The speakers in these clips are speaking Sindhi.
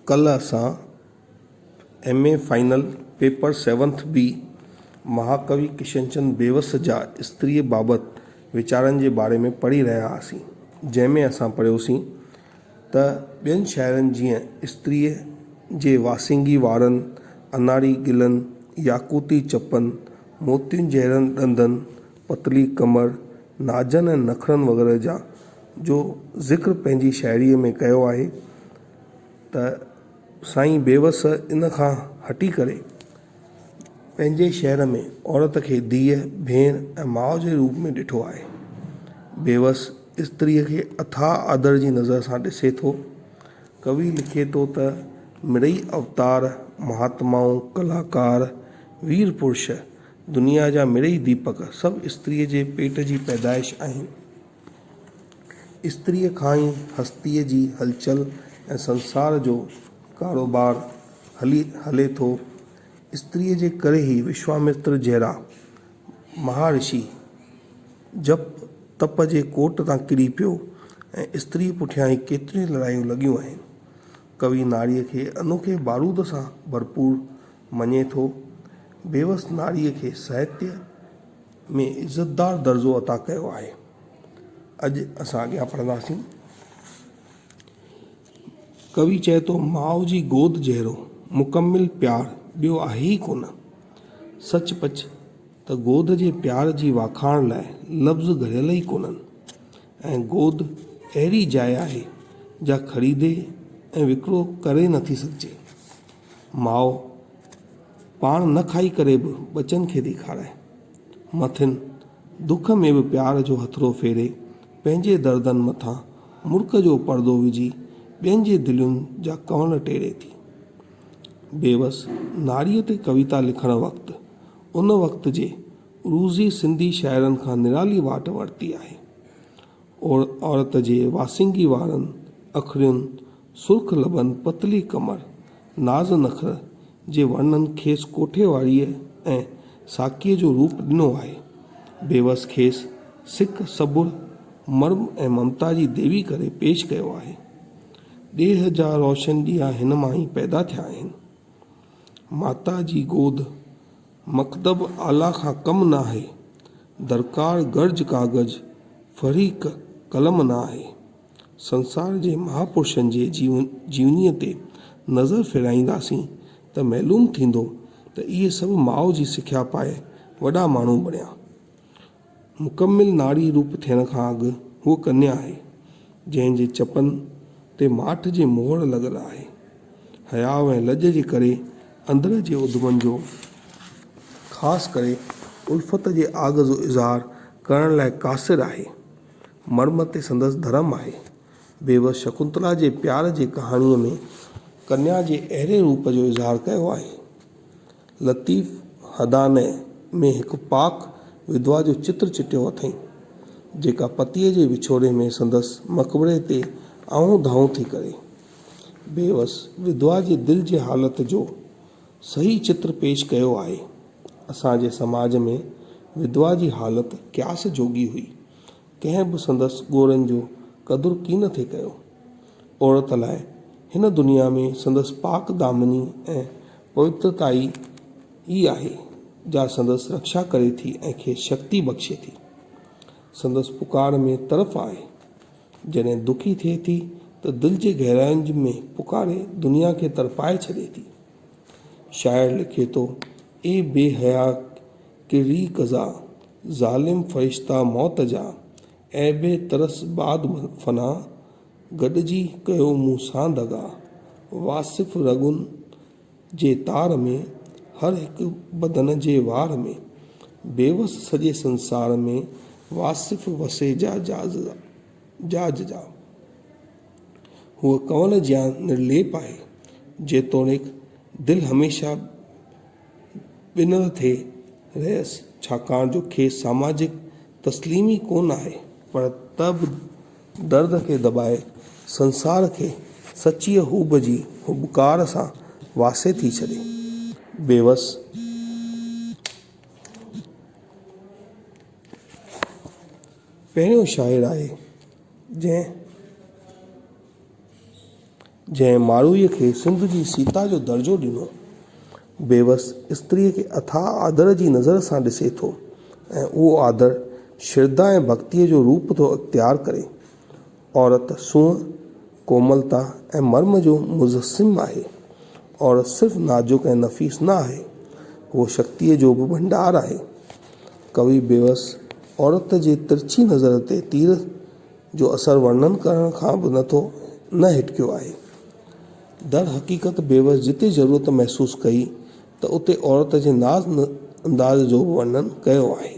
ڪلهه اسان M A final paper seventh B مهاڪوي ڪشنچند بيوس جا استريء بابت ويچارن جي باري ۾ پڙهي رهيا هئاسين جنهن ۾ اسان پڙهيوسين ته ٻين شاعرن جيئن استريء جي واسينگي وارن اناري گلن ياقوتي چپن موتين جهڙن ڏندن پتلي ڪمر، نازن ۽ نخرن وغيره جا جو ذڪر پنهنجي شاعريء ۾ ڪيو آهي ته سائين بيوس ان کان هٽي ڪري پنهنجي شعر ۾ عورت کي ڌيء، ڀيڻ ۽ ماء جي روپ ۾ ڏٺو آهي. بيوس استريء کي اٿاهه آڌر جي نظر سان ڏسي ٿو. ڪوي لکي ٿو ته، مڙئي اوتار، مهاتمائون، ڪلاڪار، وير پرش، دنيا جا مڙئي ديپڪ سڀ استريء جي پيٽ جي پيدائش آهن. استريء کان ئي هستيء جي هلچل ۽ سنسار جو ڪاروبار هلي هلي ٿو. استريء جي ڪري ئي وشوامتر جهڙا مهارشي جپ تپ جي ڪوٽ تان ڪري پيو ۽ استريء پٺيان ئي ڪيتريون لڙايون لڳيون آهن. ڪوي ناريء کي انوکي بارود سان ڀرپور مڃي ٿو. بيوس ناريء کي ساهتيه ۾ عزتدار درجو عطا ڪيو آهي. اڄ اسان اڳيان پڙهنداسين. ڪوي چئي ٿو ماء جي گود جهڙو مڪمل پيار ٻيو آهي ئي ڪونه. سچ پچ ته گود جي پيار جي واکاڻ لاء لفظ گهڙيل ئي ڪونهن ۽ گود اهڙي جاء آهي جا خريدي ۽ وڪرو ڪري نٿي سگهجي. ماء پاڻ نه کائي ڪري به ٻچن کي ٿي کارائي. مٿين دک ۾ به پيار جو هٿڙو ڦيري، پنهنجي دردن مٿان مرڪ جو پردو وجهي ٻين جي دلين جا ڪنول ٽيڙي ٿي. بيوس ناريء تي ڪويتا لکڻ وقت، ان وقت جي عروضي سنڌي شاعرن کان نرالي واٽ ورتي آهي. عورت جي واسينگي وارن اکڙين، سرخ لبن، پتلي ڪمر، ناز نخر جي ورنن کيس ڪوٺي واريء ۽ ساقيء جو روپ ڏنو آهي. بيوس کيس سڪ، صبر، مرم ۽ ممتا جي ديوي ڪري پيش ڪيو آهي. ڏيهه جا روشن ڏيئا هن مان ئي پيدا ٿيا آهن. ماتا جي گود. مڪتب اعليٰ کان ڪم ناهي، درڪار گرج ڪاغذ فريق قلم ناهي. سنسار جي مهاپرشن جي جيونيء تي نظر ڦيرائينداسين ته معلوم ٿيندو ته اهي سڀ ماء جي سکيا پائي وڏا ماڻهو بڻيا. مڪمل ناري روپ ٿيڻ کان اڳ هوء ڪنيا آهي، جنهن جي چپن تي ماٺ جي مهر لڳل آهي. حياء ۽ لڄ جي ڪري اندر جي اڌمن جو خاص ڪري الفت جي آگ جو اظهار ڪرڻ لاء قاصر آهي. مرم تي سندس ڌرم آهي. بيوس شڪنتلا جي پيار جي ڪهاڻيء ۾ ڪنيا جي اهڙي روپ جو اظهار ڪيو آهي. لطيف حداني ۾ هڪ پاڪ ودوا جو چتر چٽيو اٿئين، جيڪا پتيء جي وڇوڙي ۾ سندس مقبري تي آهون دانهون ٿي ڪري. بيوس ودوا جي دل جي حالت جو صحيح چتر پيش ڪيو آهي. اسان جي سماج ۾ ودوا جي حالت قياس جوڳي هئي. ڪنهن به سندس ڳوڙهن جو قدر ڪين ٿي ڪيو. عورت لاء هن دنيا ۾ سندس پاڪ دامني ۽ پوئتائي ئي آهي، جا سندس رڪشا ڪري ٿي ۽ کيس شڪتي بخشي ٿي. سندس پڪار ۾ طرف آهي. جڏهن دکي ٿئي ٿي ته دل جي گهراين ۾ پڪاري دنيا کي تڙپائي ڇڏي ٿي. شاعر لکي ٿو، اي بي حيا ڪرڙي قضا، ظالم فرشتا موت جا، عيب ترس بعد فنا، گڏجي ڪيو مون سان دغا. واصف رڳن جي تار ۾، هر هڪ بدن جي وار ۾، بيوس سڄي سنسار ۾، واصف وسي جا جاز جاز جا. هوء ڪنول جيان نرليپ آهي، جيتوڻيڪ دل هميشه ٻنهر ٿي رهيس، ڇاڪاڻ جو کيس ساماجڪ تسليم ئي ڪونه آهي، پر ته به درد کي دٻائي سنسار کي سچيء هوب جي هٻڪار سان واسي ٿي ڇڏي. بيوس. پهريون شاعر آهي جنهن. جنهن ماڙهوء کي سنڌ جي سيتا جو درجو ڏنو، بيوس استريء کي اٿاهه آڌر جي نظر سان ڏسي ٿو ۽ اهو آڌر شرڌا ۽ ڀڳتيء جو روپ ٿو اختيار ڪري. عورت سونهن، ڪوملتا ۽ مرم جو مجسم آهي. عورت صرف نازڪ ۽ نفيس نه آهي، هوء شڪتيء جو به ڀنڊار آهي. ڪوي بيوس عورت جي ترڇي نظر تي تير جو اثر ورنن ڪرڻ کان به نه ٿو نه هٽڪيو آهي. در حقيقت بيوس جتي ضرورت محسوس ڪئي ته اتي عورت جي ناز انداز جو به ورنن ڪيو آهي.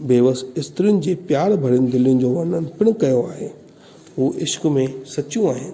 بيوس استرين جي پيار ڀرين دلين جو ورنن پڻ ڪيو آهي. هو عشق ۾ سچيون آهن.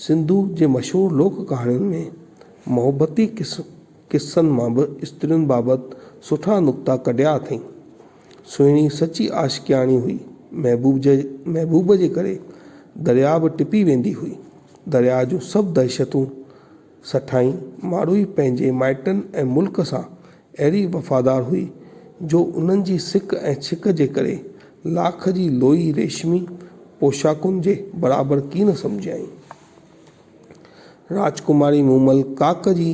سنڌوء جي مشهور لوڪ ڪهاڻين ۾ محبتي قصن مان به استرين بابت سٺا نقطا ڪڍيا اٿئين. سهڻي سچي عاشقياڻي هئي. محبوب جي ڪري درياء به ٽپي ويندي هئي. درياء جون سڀ دهشتون. سٺائين ماڙوئي پنهنجي مائٽن ۽ ملڪ سان اهڙي وفادار هئي، جو انهن جي سڪ ۽ ڇڪ جي ڪري لاک جي لوئي ريشمي پوشاڪن جي برابر ڪين سمجهيائين. راجڪماري مومل ڪاڪ جي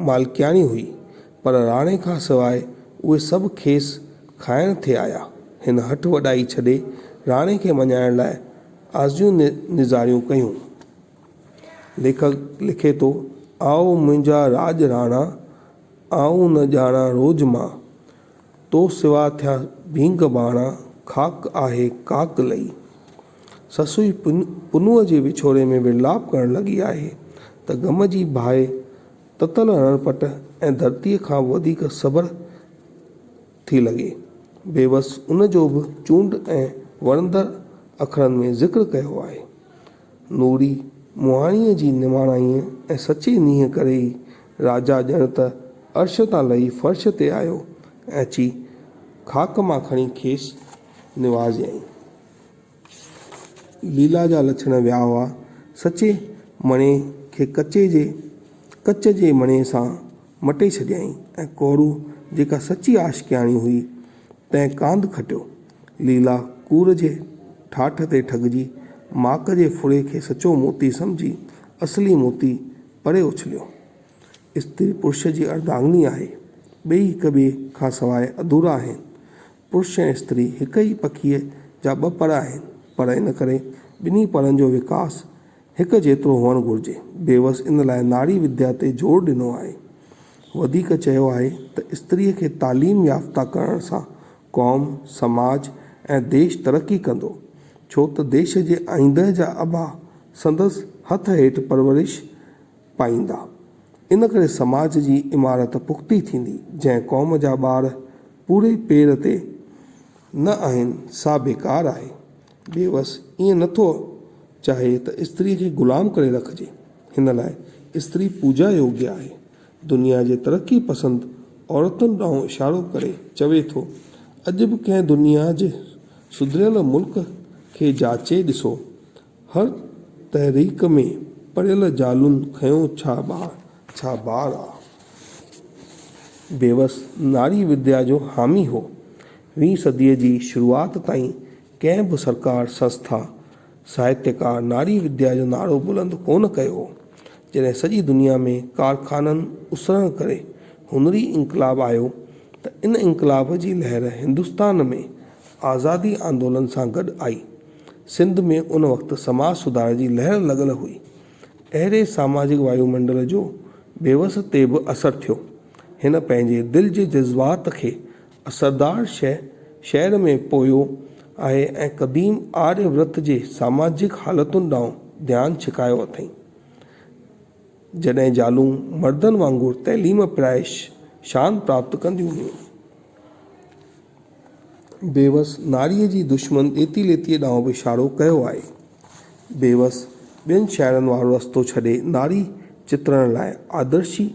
مالڪياڻي هئي، پر راڻي کان سواء اهي سڀ کيس کائڻ ٿي آيا. هن هٺ وڏائي ڇڏي، راڻي کي مڃائڻ لاء آزيون نظاريون ڪيون. ليکڪ لکي ٿو، آء منهنجا راڄ راڻا، آء نه ڄاڻان روڄ مان، تو سوا ٿيا ڀينگ ڀاڻا، خاڪ آهي ڪاڪ لئي. سسئي پنهونء جي وڇوڙي ۾ ورلاپ ڪرڻ لڳي آهي ته غم جي باهه تتل رڻ پٽ ۽ ڌرتيء کان به وڌيڪ سڀر ٿي لڳي. بيوس ان جو به چونڊ ۽ وڻندڙ اکرن ۾ ذڪر ڪيو آهي. نوري مهاڻيء جي نواڻائيء ۽ سچي نينهن ڪري ئي راجا ڄڻ ته عرش تان لهي فرش تي آيو ۽ اچي خاڪ مان کڻي کيس نوازيائين. ليلا جا لڇڻ ويا هئا. سچي مڻي کي ڪچي جي ڪچ جي مڻي سان مٽي ڇڏيائين ۽ ڪورو جيڪا سچي عاشقياڻي هئي، تنهن ڪانڌ کٽيو ليلا ڪور جي ٺاٺ تي ٺڳجي، ماڪ جي ڦڙي کي سچو موتي سمجهي، اصلي موتي پري اڇليو. استري پرش جي اردانگني آهي. ٻئي هڪ ٻئي کان سواء اڌورا آهن. پرش ۽ استري هڪ ئي پکيء جا ٻه پر آهن، پر ان ڪري ٻنهي پرن جو وڪاس هڪ جيترو هئڻ گهرجي. بيوس ان لاء ناري وديا تي زور ڏنو آهي. وڌيڪ چيو آهي ته استريء کي تعليم يافته ڪرڻ سان قوم، سماج ۽ ديش ترقي ڪندو، ڇو ته ديش جي آئينده جا ابا سندس هٿ هيٺ پرورش پائيندا. ان ڪري سماج جي عمارت پختي ٿيندي. جنهن قوم جا ٻار پوري پير تي نه آهن، سا بيڪار آهي. بيوس ائين نه ٿو چاهي ته استريء کي غلام ڪري رکجي. هن لاء استري پوڄا يوگيه آهي. دنيا جي ترقي پسند عورتن ڏانهن اشارو ڪري چوي ٿو، اڄ به ڪنهن دنيا جي سڌريل ملڪ کي جاچي ڏسو، هر تحريڪ ۾ پڙهيل زالون کنيو ڇا ٻار ڇا ٻار آ. بيوس ناري وديا جو حامي هو. ويهين صديء جي شروعات تائين ڪنهن به سرڪار، سنسٿا، ساهتيڪار ناري وديا جو نعرو بلند ڪونه ڪيو هو. جڏهن سڄي دنيا ۾ ڪارخانن اسرڻ ڪري هنري انقلاب آيو ته ان انقلاب جي لهر هندستان ۾ آزادي آندولن سان گڏ آئي. سنڌ ۾ ان وقت سماج سڌار جي لهر لڳل هئي. اهڙي ساماجڪ وايو منڊل جو بيوس تي به اثر ٿيو. هن پنهنجي دل جي جذبات کي سردار شهر شهر ۾ پويو آهي ۽ قديم آريه ورت جي ساماجڪ حالتن ڏانهن ڌيان ڇڪايو اٿئين. جڏهن زالون مردن وانگر تعليم پرائي شان پراپت ڪنديون هيون. بيوس ناريء جي دشمن ڏيتي ليتيء ڏانهن به اشارو ڪيو آهي. بيوس ٻين شاعرن وارو رستو ڇڏي ناري چترڻ لاء آدرشي،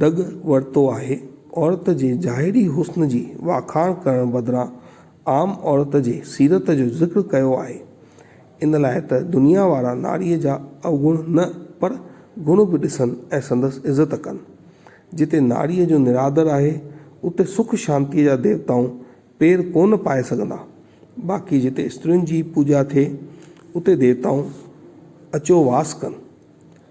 ڍڳ ورتو آهي. عورت جي ظاهري حسن جي واکاڻ ڪرڻ بدران عام عورت جي سيرت جو ذڪر ڪيو آهي. ان لاء ته دنيا وارا ناريء جا اوگڻ نه پر گڻ به ڏسن ۽ سندس عزت ڪن. جتي ناريء جو نرادر آهي، اتي سک شانتيء جا ديوتائون پير ڪونه پائي سگهندا. باقي جتي استرين جي پوڄا ٿئي، اتي ديوتائون اچو واس ڪن.